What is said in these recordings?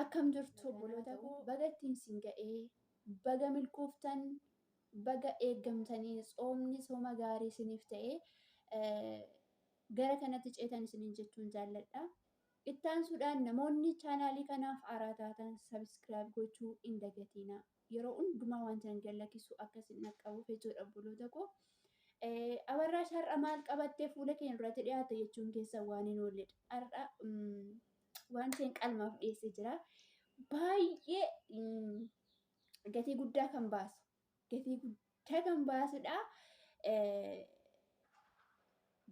Akkam jirtu obboloota koo baga ittiin isin ga'ee baga milkooftan baga eeggamtanii tsoomni sooma gaarii isiniif ta'e gara kanatti ceetan isiniin jechuun jaalladha. Ittaansuudhaan namoonni chaanaalii kanaaf haaraa taatan sabiskiraayib gochuu hin dagatiina. Yeroo hundumaa wanti ani gad lakkisu akka isin dhaqqabuuf jechuudha obboloota koo. Abarraash har'a maal qabattee fuula keenya duratti dhiyaatte jechuun keessa waan hin oolledha. Har'a wanti hin qalmaaf dhiyeessee jira. Baay'ee gatii guddaa kan baasu gatii guddaa kan baasudha.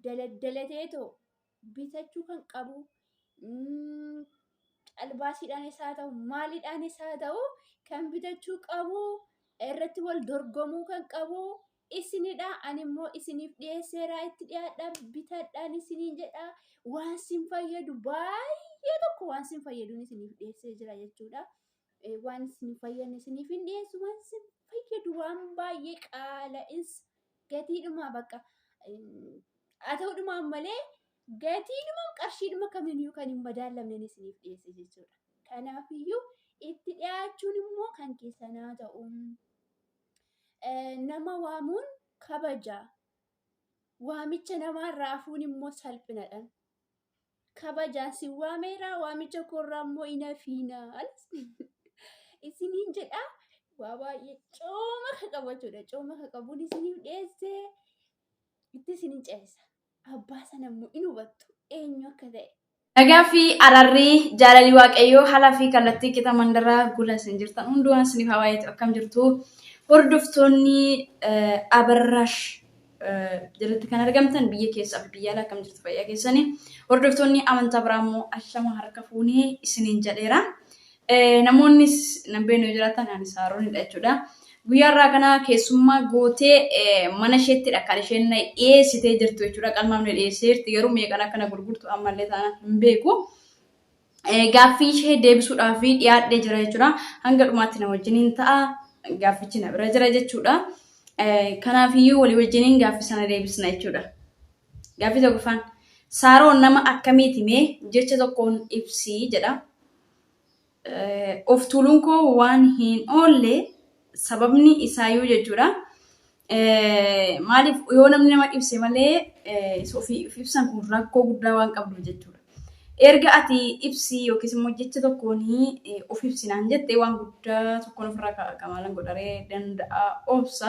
Daladdalateetoo bitachuu kan qabu calbaasiidhaan isaa ta'u maaliidhaan isaa ta'u kan bitachuu qabu irratti wal dorgomuu kan qabu isinidha, ani immoo isiniif dhiyeesseera, itti dhiyaadhaa, bitadhaan isiniin jedha, waan sin fayyadu baay'ee tokko waan sin fayyaduun isiniif dhiyeessee jira jechuudha. Eh, Waan isin hin fayyadne isiniif hin dhiyeessu, waan isin fayyadu waan baay'ee qaala'is gatiidhuma bakka em, haa ta'uudhumaan malee gatiidhuma qarshiidhuma kamiiniyyuu kan hin madaallamneen isiniif dhiyeesse jechuudha. Kanaafiyyuu itti dhiyaachuun immoo kan keessanaa ta'u. Nama waamuun kabaja. Waamicha namaarraa hafuun immoo salphinadha. Kabajaan si waameera waamicha koorraa immoo hin hafiina. Isiniin jedha waa baay'ee cooma ka qabachuudha. Cooma ka qabuun isiniif dhiyeessee itti isiniin ceesisa. abbaa sana immoo in hubattu eenyu akka ta'e. Nagaa fi ararri jaalalii waaqayyoo haalaa fi kallattii qixa mandara gula isin jirtan hundumaa isiniif haa baay'atu akkam jirtu hordoftoonni abarraash jalatti kan argamtan biyya keessaa fi biyya alaa akkam jirtu fayyaa keessanii hordoftoonni amantaa biraa immoo ashama harka fuunee isiniin jedheera. Namoonnis nan beeknu yoo jiraatan ani Saaroonidha jechuudha. Guyyaa irraa kana keessummaa gootee mana isheettidha kan isheen na dhiyeessitee jirtu jechuudha. Qalmaaf na dhiyeessee jirti garuu meeqan akka na gurgurtu ammallee taanaan hin beeku. Gaaffii ishee deebisuudhaaf dhiyaadhee jira jechuudha. Hanga dhumaatti na wajjiniin ta'a. Gaaffichi na bira jira jechuudha. Kanaafiyyuu walii wajjiniin gaaffii sana deebisna jechuudha. Gaaffii tokkoffaan Saaroon nama akkamiiti mee jecha tokkoon ibsii jedha. of tuuluun koo waan hin oolle sababni isaayyuu jechuudha. Maaliif yoo namni nama ibse malee ofiif ibsan kun rakkoo guddaa waan qabdu jechuudha. Erga ati ibsi yookiis immoo jecha tokkoon of ibsinaan jette waan guddaa tokkoon ofirraa kaa'a maalan godharee danda'a obsa.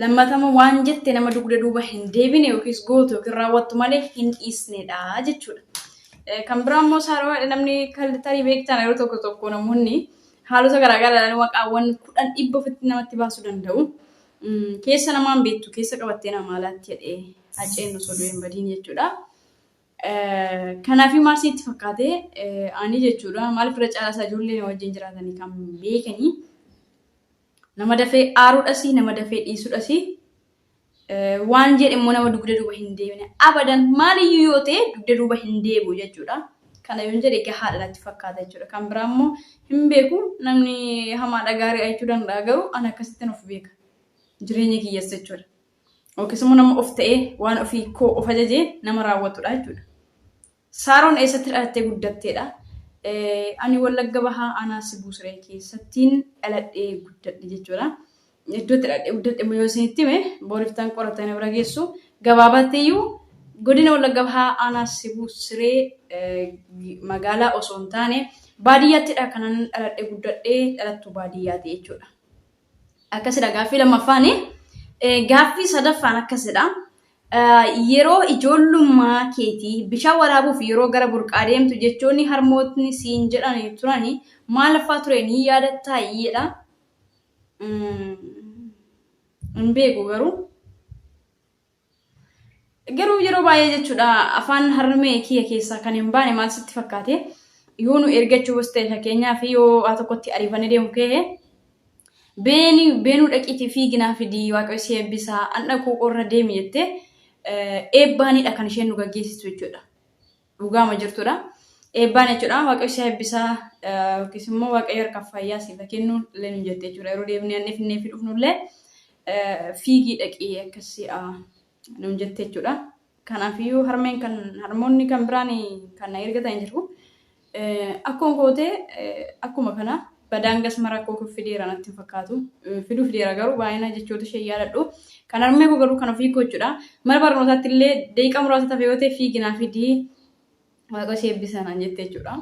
Lammatama waan jette nama dugda duuba hin deebine yookiis gootu yookiin raawwattu malee hin dhiisnedha jechuudha. Kan biraa immoo saarawaadha namni tarii beektaan yeroo tokko tokko namoonni haalota garaagaraa maqaawwan kudhan dhibba ofitti namatti baasuu danda'u. Keessa namaan beektu keessa qabattee namaa laatti jedhee haceen osoo du'e hin badiin jechuudha. Kanaaf maal sitti fakkaate ani jechuudha maaliif irra caalaa isaa ijoollee wajjin jiraatanii kan beekanii Nama dafee aaruudhasi, nama dafee dhiisudhasi. Waan jedhe immoo nama dugda duuba hin deebine. Abadan maaliyyuu yoo ta'e dugda duuba hin deebi'u jechuudha. Kana yoon jedhe gahaadha natti fakkaata jechuudha. Kan biraa immoo hin beeku namni hamaadha gaarii jechuu danda'a garuu ani akkasittiin of beeka. Jireenya kiyyas jechuudha. Yookiis immoo nama of ta'ee waan ofii koo of ajajee nama raawwatudha jechuudha. Saaroon eessatti dhalattee guddatteedha? Ani Wallagga Bahaa Aanaa Sibuu Siree keessattiin dhaladhee guddadhe jechuudha. Iddoo itti dhaladhee guddadhe immoo yoo isinitti hime booriftaan qorattee na bira geessu. Gabaabattiyyuu godina Wallagga Bahaa Aanaa Sibuu Siree magaalaa osoo hin taane baadiyyaattiidha kanan dhaladhee guddadhe dhalattuu baadiyyaati jechuudha. Akkasidha gaaffii lammaffaani. Gaaffii sadaffaan akkasidha. Yeroo ijoollummaa keetii bishaan waraabuuf yeroo gara burqaa deemtu jechoonni harmootni siin jedhan turani maal faa ture ni yaadattaa jedha. Hin beeku garuu. Garuu yeroo baay'ee jechuudha afaan harmee kiyya keessaa kan hin baane maal sitti fakkaate yoo nu ergachuu bas ta'e fakkeenyaa fi yoo waa tokkotti ariifannee deemu ka'e beeni beenuu dhaqiitii fiiginaa fidii waaqayyo si eebbisaa an dhaquu qorra deemi jettee eebbaanidha kan isheen nu gaggeessitu jechuudha. Dhugaama jirtudha. Eebbaan jechuudha. Waaqayyo si eebbisaa yookiis immoo waaqayyo harka fayyaa siif kennu illee nu jette jechuudha. Yeroo deebinee annee finnee fi dhufnu illee fiigii dhaqii akkasii nu jette jechuudha. Kanaafiyyuu harmeen kan harmoonni kan biraan kan na ergatan jiru. Akkuma kootee akkuma kana badaan gasma rakkoo kun fideera natti hin fakkaatu. Fiduu fideera garuu baay'ina jechoota ishee yaadadhu. Kan harmee koo garuu kan ofii koo jechuudha. Mana barnootaatti illee daqiiqaa muraasa tafe yoo ta'e fiiginaa fidii waaqa ishee eebbisa naan jette jechuudha.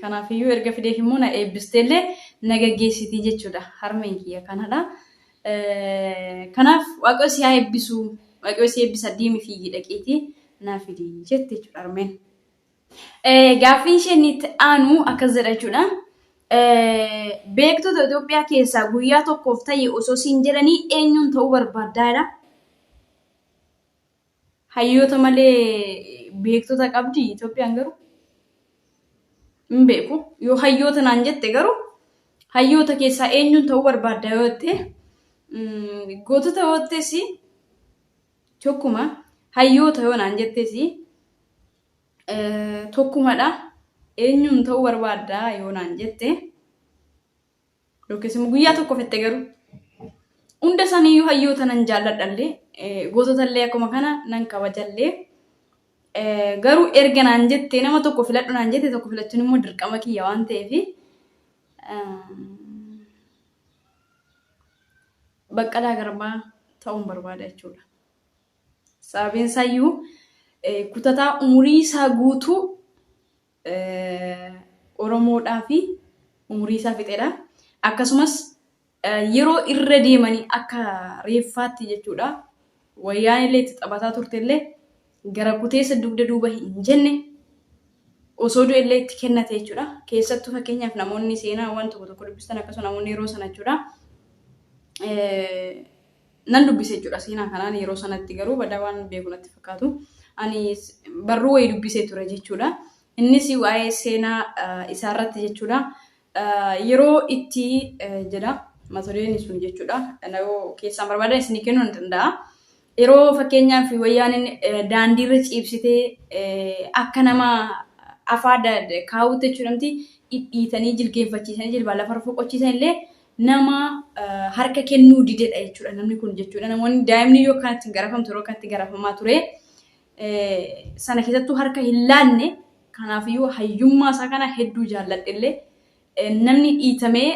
Kanaafiyyuu erga fideef immoo na eebbistee illee na gaggeessitii jechuudha. Harmeen kiyya kanadha. Kanaaf waaqa ishee haa eebbisu. Waaqayyo si eebbisa deemi fiigii dhaqiitii naa fidii jette jechuudha harmeen. Gaaffiin isheen itti aanu akkas jedha jechuudha. Beektota Itoophiyaa keessaa guyyaa tokkoof ta'e osoo siin jedhanii eenyuun ta'uu barbaaddaa jedha. Hayyoota malee beektota qabdi Itoophiyaan garuu hin beeku. Yoo hayyoota naan jette garuu hayyoota keessaa eenyuun ta'uu barbaadda yoo jette gootota yoo jettes Tokkuma hayyoota yoo naan jettes tokkumadha. Eenyuun ta'uu barbaadda yoo naan jette yookiis immoo guyyaa tokko fette garuu hunda isaaniiyyuu hayyoota nan jaalladhallee goototallee akkuma kana nan kabajallee garuu erga naan jette nama tokko filadhu naan jette tokko filachuun immoo dirqama kiyya waan ta'eef Baqqalaa Garbaa ta'uun barbaada jechuudha. Sababiin isaayyuu kutataa umurii isaa guutuu Oromoodhaa fi umurii isaa fixedha. Akkasumas yeroo irra deemanii akka reeffaatti jechuudha Wayyaanellee itti taphataa turtellee gara kuteessa dugda duuba hin jenne osoo du'ellee itti kennate jechuudha. Keessattuu fakkeenyaaf namoonni seenaawwan tokko tokko dubbistan akkasuma namoonni yeroo sana jechuudha. Nan dubbise jechuudha seenaa kanaan yeroo sanatti garuu badaa waan beeku natti fakkaatu. Ani barruu wayii dubbisee ture jechuudha. Innis waa'ee seenaa isaarratti jechuudha. Yeroo itti jedha mata dureen sun jechuudha. Yoo keessaan barbaadan isinii kennuu ni danda'a. Yeroo fakkeenyaaf wayyaaneen daandiirra ciibsitee akka nama afaa kaawutti jechuudhamti dhidhiitanii jilgeenfachiisanii jilbaa lafarra foqochiisan illee nama harka kennuu didedha jechuudha namni kun jechuudha. Namoonni daa'imni yoo kanatti garafamtu yeroo kanatti garafamaa ture sana keessattuu harka hin laanne kanaafiyyuu hayyummaa isaa kana hedduu jaalladhellee namni dhiitamee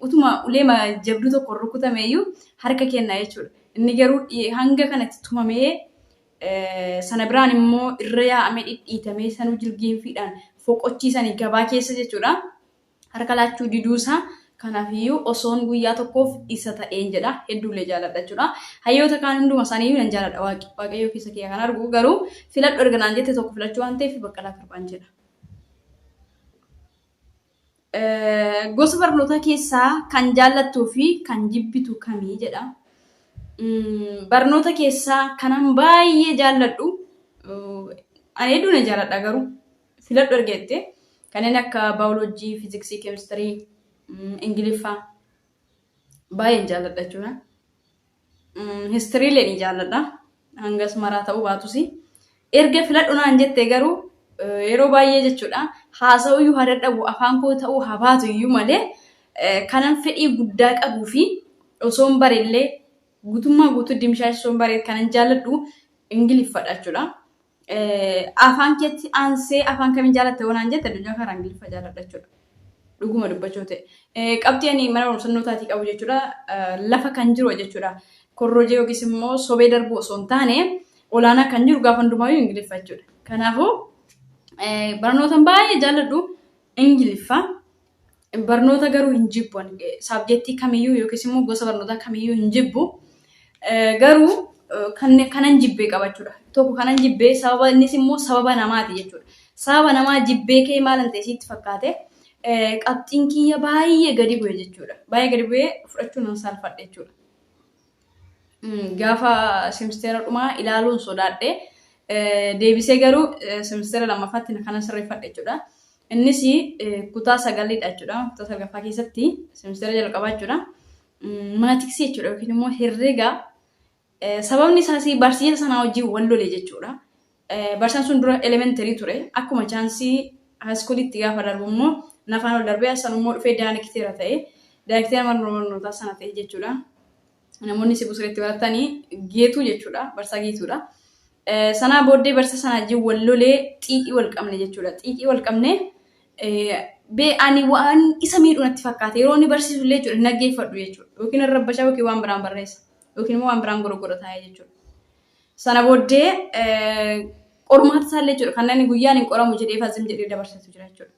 utuma uleema jabduu tokko rukutameeyyuu harka kenna jechuudha. Inni garuu hanga kanatti tumamee sana biraan immoo irra yaa'amee dhidhiitamee sanuu jirgiinfiidhaan foqochiisanii gabaa keessa jechuudha. harka laachuu diduu isaa kanaaf iyyuu osoon guyyaa tokkoof isa ta'een jedha hedduullee jaaladha jechuudha hayyoota kaan hunduma isaanii iyyuu nan jaaladha waaqi waaqayyoo keessa kiyya kan argu garuu filadhu erga naan jette tokko filachuu waan ta'eef baqqalaa garbaan jedha. Gosa barnootaa keessaa kan jaallattuu fi kan jibbitu kamii jedha. Barnoota keessaa kanan baay'ee jaalladhu ani hedduu nan jaalladha garuu filadhu erga jettee kanneen akka baayoloojii, fiiziksii, keemistirii, ingiliffa baay'een jaalladha jechuudha. Histiriilee ni jaalladha. Hangas maraa ta'uu baatus. Erga filadhu naan jettee garuu yeroo baay'ee jechuudha haasa'uu iyyuu haa dadhabu afaan koo ta'uu haa baatu iyyuu malee kanan fedhii guddaa qabuu fi osoon bareellee guutummaa guutuu dimshaasha osoon baree kanan jaalladhu ingiliffadha jechuudha. afaan keetti aansee afaan kamiin jaalatte yoo naan jette addunyaa kanarraa ingiliffa jaaladha jechuudha. Dhuguma dubbachuu ta'e. Qabxii ani mana barumsa nootaatii qabu jechuudha lafa kan jiru jechuudha. Korrojee yookiis immoo sobee darbuu osoo hin taane olaanaa kan jiru gaafa hundumaayyuu ingiliffa jechuudha. Kanaafuu barnootan baay'ee jaalladhu ingiliffa. Barnoota garuu hin jibbu ani. Saabjektii kamiyyuu yookiis immoo gosa barnootaa kamiyyuu hin jibbu. Garuu kanan jibbee qaba jechuudha. Tokko kanan jibbee sababa innis immoo sababa namaati jechuudha. Sababa namaa jibbee kee maalan ta'e siitti fakkaate qabxiin kiyya baay'ee gadi bu'e jechuudha. Baay'ee gadi bu'ee fudhachuu nan saalfadhe jechuudha. gaafa semisteera dhumaa ilaaluun sodaadhe. Deebisee garuu semisteera lammaffaatti kana sirreeffadhe jechuudha. Innis kutaa sagalidha jechuudha. Kutaa salgaffaa keessatti semisteera jalqabaa jechuudha. Maatiksii jechuudha yookiin immoo herrega sababni isaas barsiisa sanaa wajjin wal lole jechuudha. Barsiisaan sun dura elementary ture. Akkuma chaansii haayiskuuliitti gaafa darbu immoo nafaan ol darbee san immoo dhufee daayireekteera ta'e. Daayireekteera mana barnootaa sana ta'e jechuudha. Namoonni Sibuu Sireetti baratani geetuu jechuudha. Barsiisaa geetuudha. Sanaa booddee barsiisaa sana wajjin wal lolee xiiqii wal qabne jechuudha. Xiiqii wal qabne bee ani waan isa miidhu natti fakkaate yeroo inni barsiisu illee jechuudha naggeeffadhu jechuudha. Yookiin irra bashaa yookiin waan biraan barreessa. Yookiin immoo waan biraan gorogora taa'ee jechuudha. Sana booddee qormaata isaallee jechuudha. Kan namni guyyaan hin qoramu jedhee fazim jedhee dabarsetu jira jechuudha.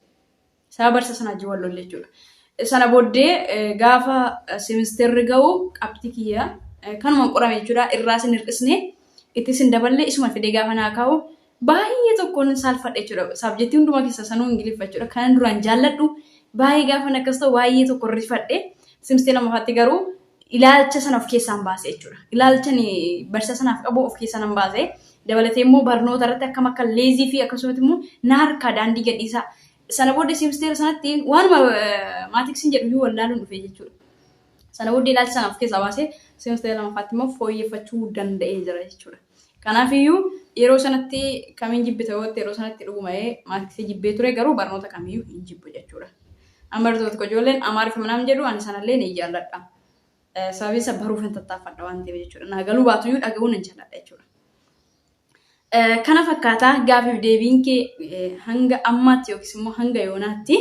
Isaa barsa sana wajjin wal lolle jechuudha. Sana booddee gaafa seemisteerri ga'u qabxii kiyya kanumaan qorame jechuudha. Irraas hin hir'isne ittis hin daballe isuma fidee gaafa naa kaa'u baay'ee tokkoon hin saalfadhe jechuudha. Saabjektii hundumaa keessaa sanuu Ingiliffa jechuudha. Kanan duraan jaalladhu baay'ee gaafan akkas ta'u baay'ee tokko rifadhe. Simstee lammaffaatti garuu ilaalcha sana of keessaan baase jechuudha. Ilaalcha barsiisa sanaaf qabu of keessaa nan baase. Dabalatee immoo barnoota irratti akkam akka leezii fi akkasumas immoo na harkaa daandii gadhiisaa. Sana booddee simsteera sanatti waanuma maatiksiin jedhu iyyuu wallaaluun dhufe jechuudha. Sana booddee ilaalcha sana of keessaa baasee simsteera lammaffaatti immoo fooyyeffachuu danda'ee jira jechuudha. Kanaafiyyuu yeroo sanatti kamiin jibbita yoo jette yeroo sanatti dhuguma maatkisii jibbee ture garuu barnoota kamiyyuu hin jibbu jechuudha. An barattoota tokko ijoolleen amaariffa minaan jedhu ani sanallee ni jaalladha. Sababiin isa baruuf hin tattaaffadha waan ta'eef jechuudha. Naa galuu baatuyyuu dhaga'uun hin jaalladha jechuudha. Kana fakkaataa gaafiif deebiin kee hanga ammaatti yookiis immoo hanga yoonaatti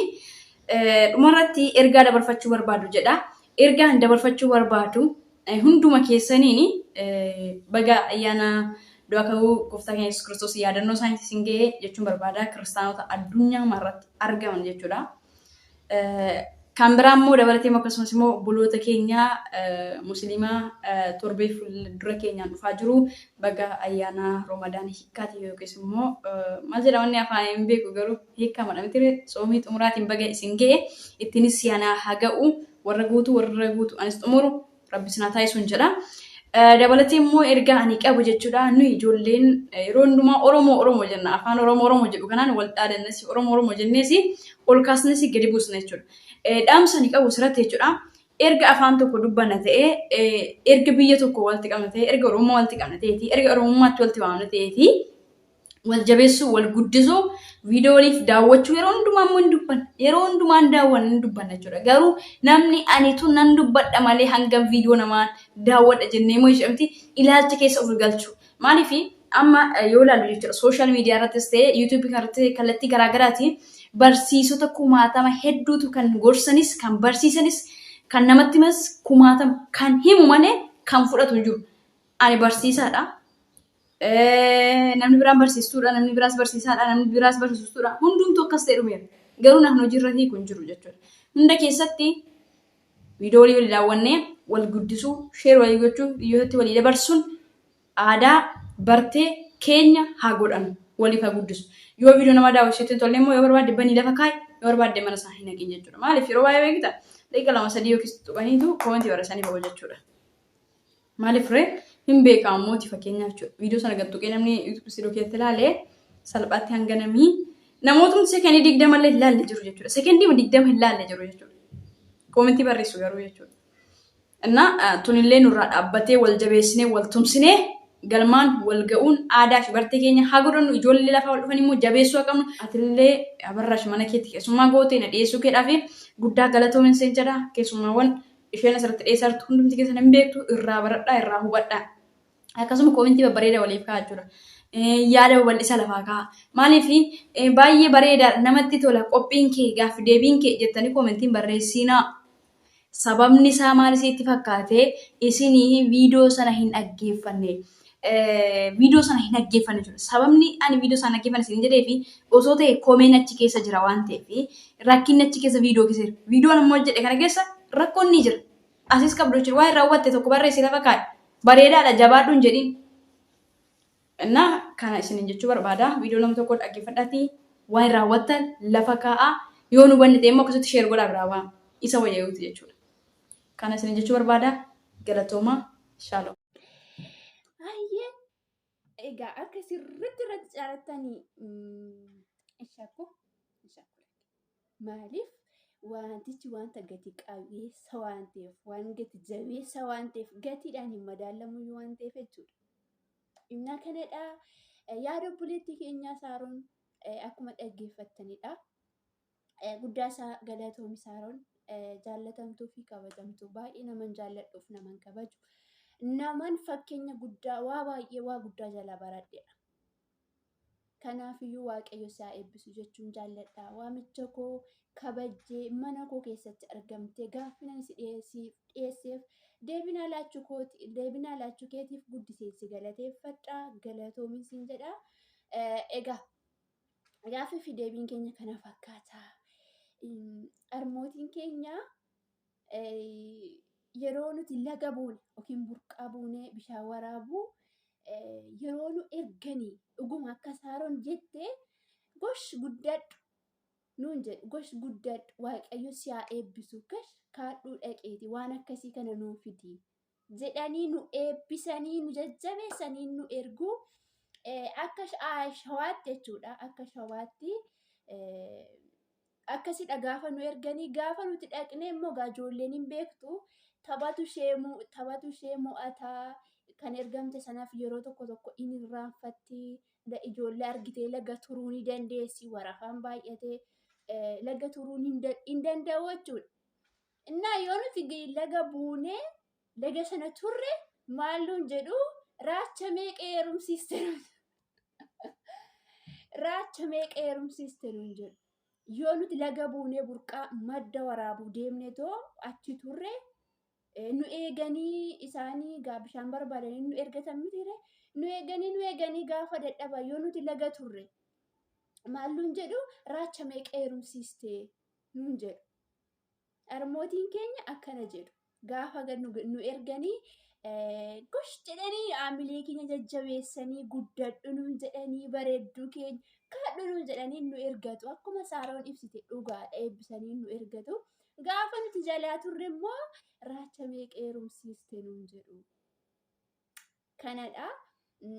dhumarratti ergaa dabarfachuu barbaadu jedha. Ergaan dabarfachuu barbaadu Hunduma keessaniin baga ayyaana du'a ka'uu gooftaa keenya Yesuus Kiristoos yaadannoo isaaniitti isin ga'e jechuun barbaada. Kiristaanota addunyaa marratti argaman jechuudha. Kan biraa immoo dabalatee immoo akkasumas immoo obboloota keenya musliimaa torbee fuuldura keenyaan dhufaa jiru baga ayyaana Roomadaan hiikkaati yookiis immoo maal jedhama inni afaan hin beeku garuu hiikkamadha miti tsoomii xumuraatiin baga isin ga'e ittiinis siyaanaa haa ga'u. warra guutu warra guutu anis xumuru rabbi sinaa taasisuun jedha. Dabalatee immoo ergaa ani qabu jechuudha nuyi ijoolleen yeroo hundumaa Oromoo Oromoo jenna afaan Oromoo Oromoo jedhu kanaan wal dhaadannes Oromoo Oromoo jennees ol kaasnes gadi buusna jechuudha. Dhaamsa ani qabu sirratti jechuudha. Erga afaan tokko dubbanna ta'ee erga biyya tokko walitti qabna ta'ee erga Oromoo walitti qabna ta'ee fi erga Oromummaatti walitti waamna ta'ee fi wal jabeessuu, wal guddisuu, viidiyoo waliif daawwachuu yeroo hundumaa immoo hin dubbanna. Yeroo hundumaan daawwanna hin dubbanna jechuudha. Garuu namni ani tun nan dubbadha malee hangam viidiyoo namaan daawwadha jennee immoo jechuudha miti ilaalcha keessa of galchu. Maaliif amma yoo ilaallu jechuudha sooshaal miidiyaa irrattis ta'e yuutuubii kanarratti kallattii garaa garaatiin barsiisota kumaatama hedduutu kan gorsanis kan barsiisanis kan namatti himas kumaatama kan himu malee kan fudhatu hin jiru. Ani barsiisaadha. namni biraan barsiistuudha, namni biraas barsiisaadha, namni biraas barsiistuudha. Hundumtuu akkas ta'e dhumeera. Garuu naan hojiirra hiiku hin jiru jechuudha. Hunda keessatti viidiyoo walii walii daawwannee wal guddisuu, sheer walii gochuu, dhiyyootatti walii dabarsuun aadaa bartee keenya haa godhannu. Waliif haa guddisu. Yoo viidiyoo nama daawwisiitu hin tolle immoo yoo barbaadde banii lafa kaa'i, yoo barbaadde mana isaa hin haqin jechuudha. Maaliif yeroo baay'ee beekta daqiiqa lama sadii yookiis tuqaniitu koomentii barreessanii ba'u jechuudha. Maaliif ree hin beekaa ammooti fakkeenyaaf jechuudha. Viidiyoo sana gad tuqee namni YouTube studio keessatti ilaale salphaatti hanga namii namootumti sekendii digdama illee hin laalle jiru jechuudha. Sekendii digdama hin laalle jiru jechuudha. Koomentii barreessu garuu jechuudha. Innaa tunillee nurraa dhaabbatee wal jabeessinee wal tumsinee galmaan wal ga'uun aadaa fi bartee keenya haa godhannu ijoollee lafaa wal dhufan immoo jabeessuu haa qabnu. Atillee abarraash mana keetti keessummaa gootee na dhiyeessuu keedhaaf guddaa galatoomin seen jedha keessummaawwan isheen asirratti dhiyeessaa jirtu hundumti keessan hin beektu irraa baradhaa irraa hubadhaa akkasuma koomentii babbareeda waliif ka'a jechuudha. Yaada babal'isa lafaa ka'a. Maaliif baay'ee bareeda namatti tola qophiin kee gaaffi deebiin kee jettanii koomentiin barreessiinaa. Sababni isaa maal isiitti fakkaate isinii viidiyoo sana hin dhaggeeffanne. viidiyoo sana hin dhaggeeffanne jechuudha. Sababni ani viidiyoo sana dhaggeeffanne isin jedhee fi osoo ta'e komeen achi keessa jira waan ta'eef rakkinni achi keessa viidiyoo keessa jira. Viidiyoon ammoo jedhe kana keessa rakkoon ni jira. Asis qabdu jechuudha. Waan raawwatte tokko barreessi lafa kaa'e. Bareedaadha jabaadhuun jedhiin. Innaa kana isiniin jechuu barbaada. Viidiyoo nama tokko dhaggeeffadhaatii waan raawwattan lafa kaa'aa. Yoo nu hubanne ta'e immoo akkasitti sheer godhaa biraa waan isa wayyaa'uuti jechuudha. Kana isiniin jechuu barbaada. Galatoomaa. Shaaloom. Hayyee egaa akka sirriitti irratti caalattanii shakku shakku maaliif wantichi wanta gati qabeessa waan ta'eef waan gati jabeessa waan ta'eef gatiidhaan hin madaallamu waan ta'eef jechuudha. Dhimma kanadha yaada obboleettii keenyaa saaruun akkuma dhaggeeffattanidha. Guddaa isaa galatoomi Saaroon jaallatamtuu fi kabajamtuu baay'ee naman jaalladhuuf naman kabaju naman fakkeenya guddaa waa baay'ee waa guddaa jala baradheedha. Kanaafiyyuu waaqayyo isaa eebbisu jechuun jaalladha. Waamicha koo kabajjee mana koo keessatti argamtee gaaffinan si dhiyeesseef deebinaa laachuu kooti deebinaa laachuu keetiif guddiseen si galateeffadha galatoomin siin jedha. Egaa Gaaffii fi deebiin keenya kana fakkaata. Harmootiin keenya yeroo nuti laga buune yookiin burqaa buunee bishaan waraabuu yeroo nu erganii dhuguma akka saaroon jette gosh guddadhu nuun jedhu gosh guddadhu waaqayyo si haa eebbisu gash kaadhuu dhaqeeti waan akkasii kana nuu fidi jedhanii nu eebbisanii nu jajjabeessanii nu ergu akka shawaatti jechuudha akka shawaatti akkasidha gaafa nu erganii gaafa nuti dhaqne immoo gaajoolleen hin beektu taphatu ishee taphatu ishee mo'ataa kan ergamte sanaaf yeroo tokko tokko in irraanfatti ijoollee argitee laga turuu ni dandeessi warafaan baay'atee laga turuu hin danda'u jechuudha. Innaa yoo nuti laga buunee laga sana turre maal nuun jedhu raacha meeqa heerumsiiste raacha meeqa heerumsiiste nuun jedhu. Yoo nuti laga buunee burqaa madda waraabuu deemne too achi turre nu eeganii isaanii gaa bishaan barbaadanii nu ergatan mitiire nu eeganii nu eeganii gaafa dadhaba yoo nuti laga turre maal nuun jedhu raacha meeqa heerumsiiste nuun jedhu. Harmootiin keenya akkana jedhu. Gaafa gad nu, nu erganii eh, gosh jedhanii haamilee keenya jajjabeessanii guddadhu nuun jedhanii bareedduu keenya kaadhu nuun jedhanii nu ergatu. Akkuma Saaroon ibsite dhugaadha eebbisanii nu ergatu. Gaafa nuti jalaa turre immoo raacha meeqa heerumsiiste nuun jedhu. kanadha.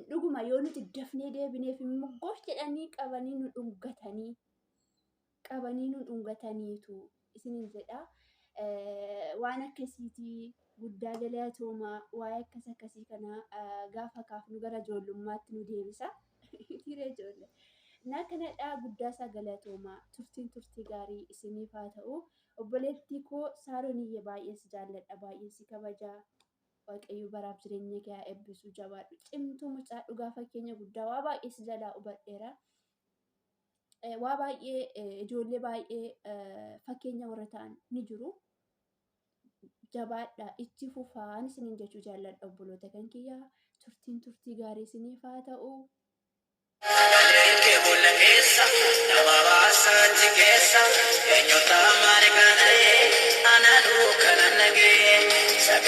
Dhuguma yoo nuti dafnee deebineef immoo gof jedhanii qabanii nu dhungatanii qabanii nu dhungataniitu isinin jedha. Waan akkasiiti guddaa galatooma waa'ee akkas akkasii kana gaafa kaafnu gara ijoollummaatti nu deebisa. Dhiira ijoollee. Naa kanadhaa guddaa isaa galatooma turtiin turtii gaarii isiniif haa ta'u. Obboleettii koo Saaroniyye baay'een si jaalladha baay'een si kabajaa. Waaqayyo baraaf jireenya kee haa eebbisu jabaadhu cimtuu mucaa dhugaa fakkeenya guddaa waa baay'ee si jalaa hubadheera. Eh, Waa baay'ee eh, ijoollee baay'ee eh, fakkeenya warra ta'an ni jiru. Jabaadha itti fufaan isiniin jechuu jaalladha obboloota kan kiyyaa turtiin turtii gaarii isiniif haa ta'u. Sagaleen kee boolla keessa nama baasa achi keessa eenyutu ammaare kana ee ana duuka nan dhagee. Sagaleen